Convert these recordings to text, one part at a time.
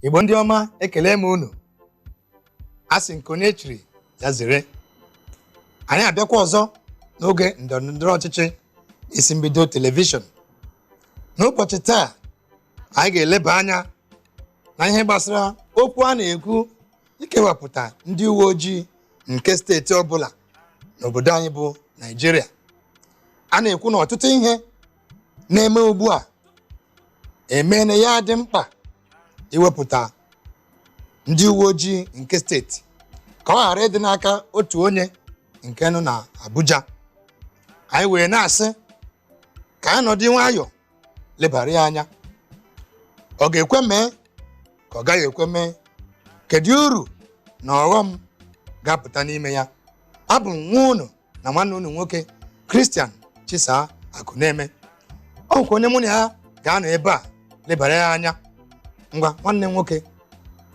igbo ndị ọma ekele m unu a sị nke onye chiri ya zere anyị abịakwa ọzọ n'oge ndọrọndọrọ ọchịchị isi mbido telivishọn n'ụbọchị taa anyị ga-eleba anya na ihe gbasara okwu a na-ekwu ikewapụta ndị uwe ojii nke steeti ọbụla n'obodo anyị bụ Naịjirịa a na-ekwu na ọtụtụ ihe na-eme ugbu a emene ya dị mkpa iwepụta ndị uwe ojii nke steeti ka ọ ghara ịdị n'aka otu onye nke nọ na Abuja anyị wee na-asị ka anyị nọdụ nwayọọ lebara ya anya ọ ga-ekwe mee ka ọ gaghị ekwe mee kedu uru na ọghọm ga-apụta n'ime ya abụ m nwa unu na nwanne unu nwoke christian chisaa akụneme o nwekwa onye mụ na ya ga-anọ ebe a lebara ya anya ngwa nwanne m nwoke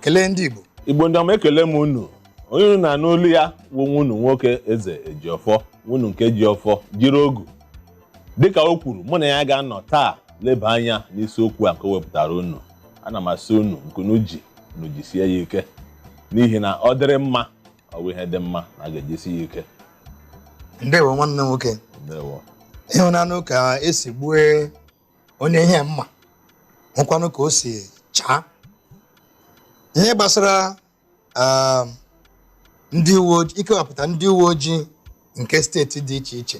kelee ndị igbo igbo ndị ọma ekele m unu onye unu na-anụ olu ya wụ nwa unu nwoke eze ejiọfọ nwa unu nke ji ọfọ jiri ogu dịka o kwuru mụ na ya ga-anọ taa leba anya n'isiokwu a nke o wepụtara unu ana m asị unu nke unu ji unu jisie ya ike n'ihi na ọ dịrị mma ọ wụ ihe dị mma na a ga-ejisi ya ike ndewo nwanne m nwoke ndewo ị hụnanụ ka e si gbue onye ihe mma hụkwanụ ka o si chaa ihe gbasara um, ndị uwe ojii ikewapụta ndị uwe ojii nke steeti dị iche iche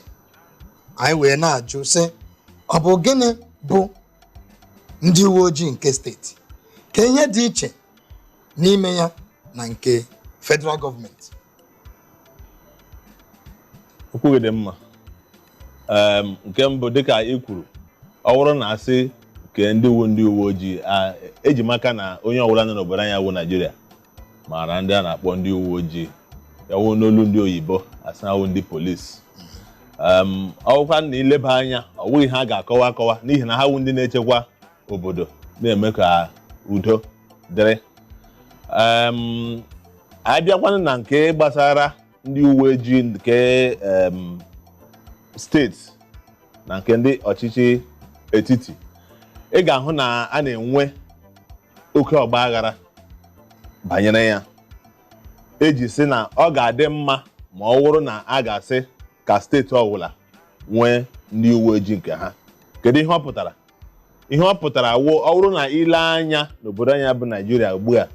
anyị wee na-ajụ sị ọ bụ gịnị bụ ndị uwe ojii nke steeti kee ihe dị iche n'ime ya na nke federal gọọmenti okwu gị dị mma Em, nke mbụ dịka i kwuru ọ wụrụ na a sị kee ndị wụ ndị uwe ojii a- eji maka na onye ọbụla nọ n'obodo anyị wụ naijiria maara ndị a na-akpọ ndị uwe ojii ya wụ n'olu ndị oyibo asị ha wụ ndị polisi Em, ọ wụkwa na i leba anya ọ wụghị ihe a ga-akọwa akọwa n'ihi na ha wụ ndị na-echekwa obodo na-eme ka udo dịrị Em, a bịakwanụ na nke gbasara ndị uwe ojii nke em, steeti na nke ndị ọchịchị etiti ị ga-ahụ na a na-enwe oke ọgba aghara banyere ya e ji sị na ọ ga-adị mma ma ọ wụrụ na a ga-asị ka steeti ọbụla nwee ndị uwe ojii nke ha kedu ihe ọ pụtara ihe ọ pụtara wụ ọ bụrụ na i lee anya n'obodo anyị bụ naijiria ugbu a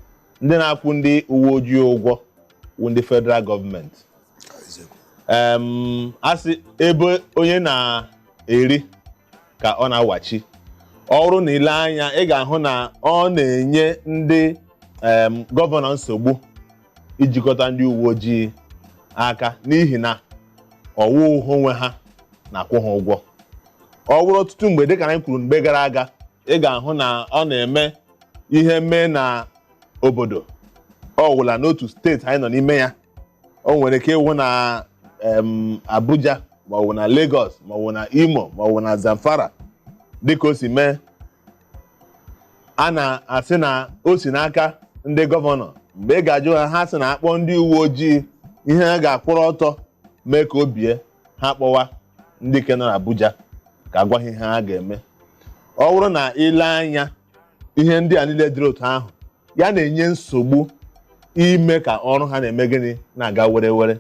ndị na-akwụ ndị uwe ojii ụgwọ wụ ndị federal gọọmenti em a sị ebe onye na-eri ka ọ na-awachi ọ bụrụ na i lee anya ị ga-ahụ na ọ na-enye ndị em, gọvanọ nsogbu ijikọta ndị uwe ojii aka n'ihi na ọ wụghị onwe ha na-akwụ ha ụgwọ ọ bụrụ ọtụtụ mgbe dịka anyị kwuru mgbe gara aga ị ga-ahụ na ọ na-eme ihe mee na obodo ọwụla n'otu steeti anyị nọ n'ime ya o nwere ike ịwụ na em, Abuja maọbụ na Lagos maọbụ na Imo maọbụ na Zamfara dịka o si mee a na-asị na o si n'aka ndị gọvanọ mgbe ị ga-ajụ ha ha sị na a kpọọ ndị uwe ojii ihe ha ga-akwụrụ ọtọ mee ka o bie ha kpọwa ndị ke nọ n'Abuja ka a gwa ha ihe ha ga-eme ọ bụrụ na i lee anya ihe ndị a niile dịrị otu ahụ ya na-enye nsogbu ime ka ọrụ ha na-eme gịnị na-aga were were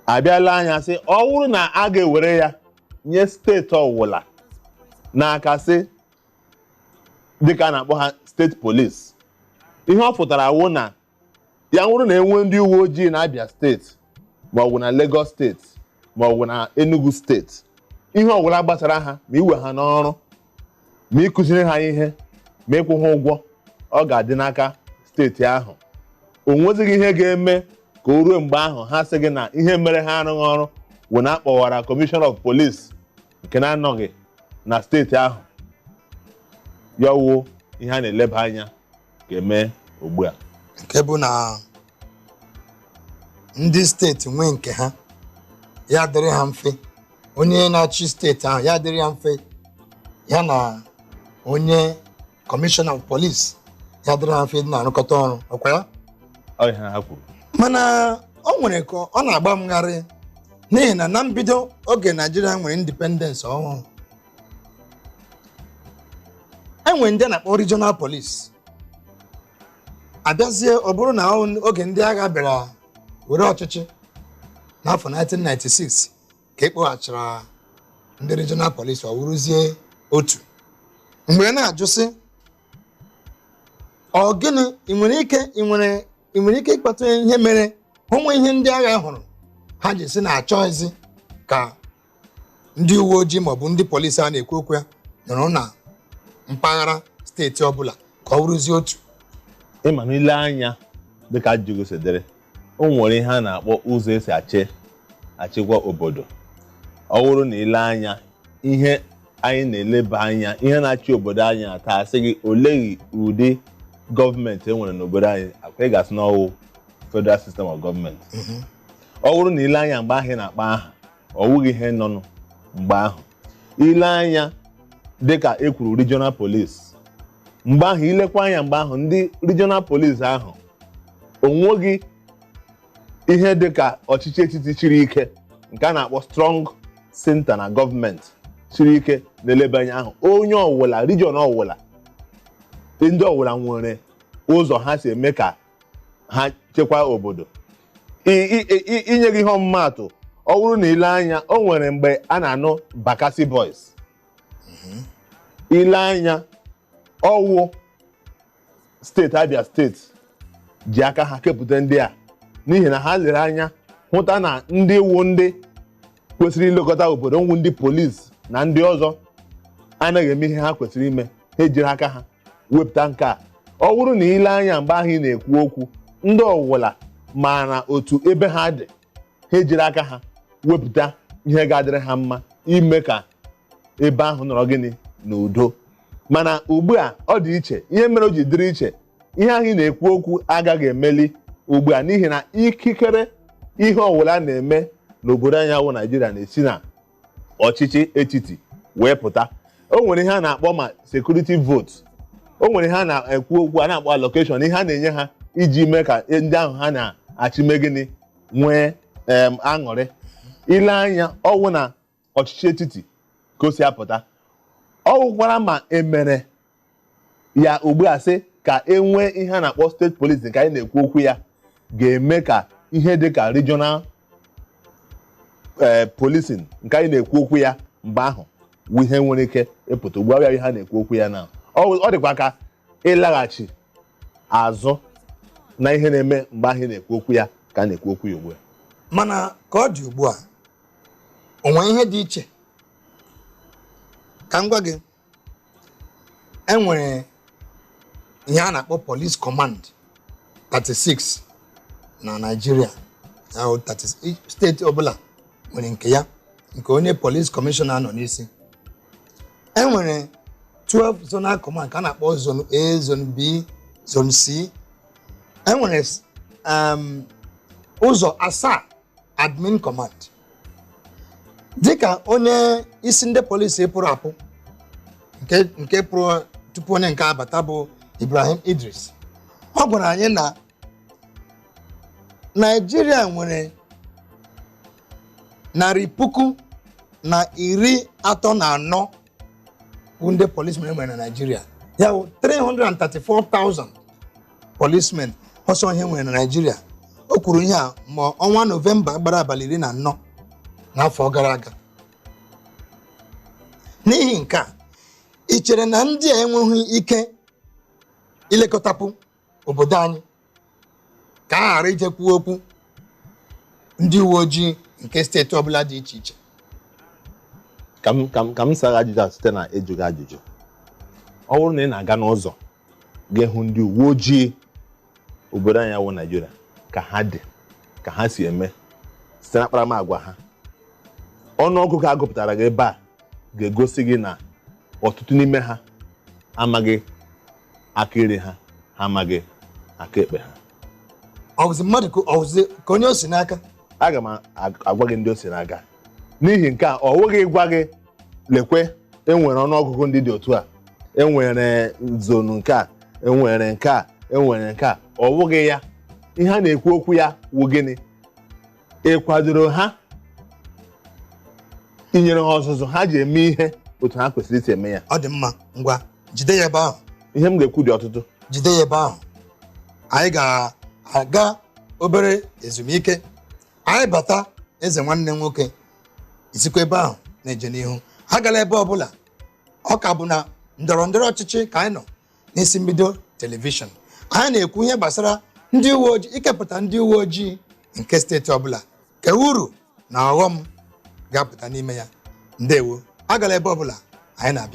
a bịa lee anya sị ọ bụrụ na a ga-ewere ya nye steeti ọwụla n'aka sị dịka a na-akpọ ha steeti polisi ihe ọ pụtara wụ na ya wụrụ na e nwee ndị uwe ojii na Abia steeti ma ọ bụ na Lagos steeti ma ọ bụ na Enugu steeti ihe ọwụla gbasara ha ma iwe ha n'ọrụ ma ịkụziri ha ihe ma ịkwụ ha ụgwọ ọ ga-adị n'aka steeti ahụ o nwezighị ihe ga-eme ka o ruo mgbe ahụ ha sị gị na ihe mere ha arụghị ọrụ wụ na a kpọwara kọmishọna of polis nke na-anọghị na steeti ahụ ya wụ ihe a na-eleba anya ka e mee ugbu a nke bụ na ndị steeti nwee nke ha ya dịrị ha mfe onye na-achị steeti ahụ ya dịrị ya mfe ya na onye kọmishọna of polisi ya dịrị ha mfe ịdị na-arụkọta ọrụ ọkwa ya Ọ ihe ha kwuru mana o nwere ka ọ na-agba m gharịị n'ihi na na mbido oge naijiria nwere indipendens ọhụrụ e nwere ndị a na-akpọ regional police a bịazie ọ bụrụ na oge ndị agha bịara were ọchịchị n'afọ 1996 ka e kpoghachara ndị regional police ọ wụrụzie otu m were na-ajụ sị ọ gịnị i nwere ike i nwere i nwere ike ịkọwata ihe mere o nwe ihe ndị agha hụrụ ha ji sị na achọghịzi ka ndị uwe ojii maọbụ ndị polisi a na-ekwu okwu ya nọrọ na mpaghara steeti ọbụla ka ọ wụrụzie otu ịma na ile anya dịka ajụjụ si dịrị o nwere ihe a na-akpọ ụzọ esi achị achịkwa obodo ọ wụrụ na ile anya ihe anyị na-eleba anya ihe na-achị obodo anyị a taa a sị gị oleghị ụdị gọọmenti e nwere n'obodo anyị akwa ị ga-asị na ọwụ federal system of government ọ wụrụ na ile anya mgbe ahụ ị na-akpa aha ọ wụghị ihe nọnụ mgbe ahụ ile anya dịka e kwuru regional police mgbe ahụ ilekwa anya mgbe ahụ ndị regional police ahụ onweghị ihe dịka ọchịchị etiti chiri ike nke a na-akpọ strong center na gọọmenti chiri ike na-eleba anya ahụ onye ọwụla region ọwụla ndị ọwụla nwere ụzọ ha si eme ka ha chekwaa obodo inye gị ihe ọmụmaatụ ọ wụrụ na ile anya o nwere mgbe a na-anụ Bakassi Boys ile anya ọwụ steeti Abia steeti ji aka ha kepụta ndị a n'ihi na ha lere anya hụta na ndị wụ ndị kwesịrị ilekọta obodo nwụ ndị polisi na ndị ọzọ anaghị eme ihe ha kwesịrị ime ha ejiri aka ha wepụta nke a ọ wụrụ na ile anya mgbe ahụ ị na-ekwu okwu ndị ọwụla maara otu ebe ha dị ha ejiri aka ha wepụta ihe ga-adịrị ha mma ime ka ebe ahụ nọrọ gịnị n'udo mana ugbu a ọ dị iche ihe mere o ji dịrị iche ihe ahụ ị na-ekwu okwu agaghị emeli ugbu a n'ihi na ikikere ihe ọwụla na-eme n'obodo anyị a wụ Naịjirịa na-esi na ọchịchị etiti wee pụta o nwere ihe a na-akpọ ma security vote o nwere ihe a na-ekwu okwu a na-akpọ allocation ihe a na-enye ha iji mee ka ndị ahụ ha na-achị mee gịnị nwee em, aṅụrị ile anya ọwụ na ọchịchị etiti ka o si apụta ọ gwụkwara ma emere ya ugbu a sị ka e nwee ihe a na-akpọ state police nke anyị na-ekwu okwu ya ga-eme ka ihe dị ka regional ee policing nke anyị na-ekwu okwu ya mgbe ahụ wụ ihe nwere ike ịpụta ugbu a ihe a na-ekwu okwu ya na ọ ọ dịkwa ka ịlaghachi azụ na ihe na-eme mgbe ahụ ị na-ekwu okwu ya ka a na-ekwu okwu ya ugbu a mana ka ọ dị ugbu a o nwere ihe dị iche ka m gwa gị enwere ihe a na-akpọ police command 36 na Naịjirịa steeti ọbụla nwere nke ya nke onye police commissioner nọ n'isi enwere 12 zonal command ka a na-akpọ zone A zone B zone C enwere um, ụzọ asaa admin command dịka onye isi ndị polisi pụrụ apụ nke pụrụ tupu onye nke a abata bụ Ibrahim Idris ọ gwara anyị na Naịjirịa nwere narị puku na iri atọ na anọ ndị policemen nwere na Naịjirịa ya bụ 334,000 policemen ọ sọ ihe e nwere na Naịjirịa o kwuru ihe a ma ọnwa Nọvemba gbara abalị iri na anọ n'afọ gara aga n'ihi nke a i chere na ndị a enweghị ike ilekọtapụ obodo anyị ka a ghara ije kwuo okwu ndị uwe ojii nke steeti ọbụla dị iche iche ka m ka m ka m sara ajụjụ a site na ịjụ gị ajụjụ ọ bụrụ na ị na-aga n'ụzọ ga-ahụ ndị uwe ojii obodo anyị wụ naijiria ka ha dị ka ha si eme site na akparamagwa ha ọnụọgụgụ a gụpụtara gị ebe a ga-egosi gị na ọtụtụ n'ime ha amaghị aka nri ha ha amaghị aka ekpe ha ọ wụzi mmadụ ka ọ wụzi ka onye o si n'aka aga m agwa gị ndị o si n'aka n'ihi nke a ọ wụghị ịgwa gị lekwe e nwere ọnụọgụgụ ndị dị otu a e nwere zonu nke a e nwere nke a e nwere nke a ọ wụghị ya ihe a na-ekwu okwu ya wụ gịnị ị kwadoro ha i nyere ha ọzụzụ ha ji eme ihe otu ha kwesịrị isi eme ya ọ dị mma ngwa jide ya ebe ahụ ihe m ga-ekwu dị ọtụtụ jide ya ebe ahụ anyị ga-aga obere ezumike anyị bata eze nwanne nwoke i sikwa ebe ahụ na-eje n'ihu agala ebe ọbụla ọ ka bụ na ndọrọndọrọ ọchịchị ka anyị nọ n'isi mbido telivishọn anyị na-ekwu ihe gbasara ndị uwe ojii ikepụta ndị uwe ojii nke steeti ọbụla ka uru na ọghọm ga-apụta n'ime ya ndewo agala ebe ọbụla anyị na-abịa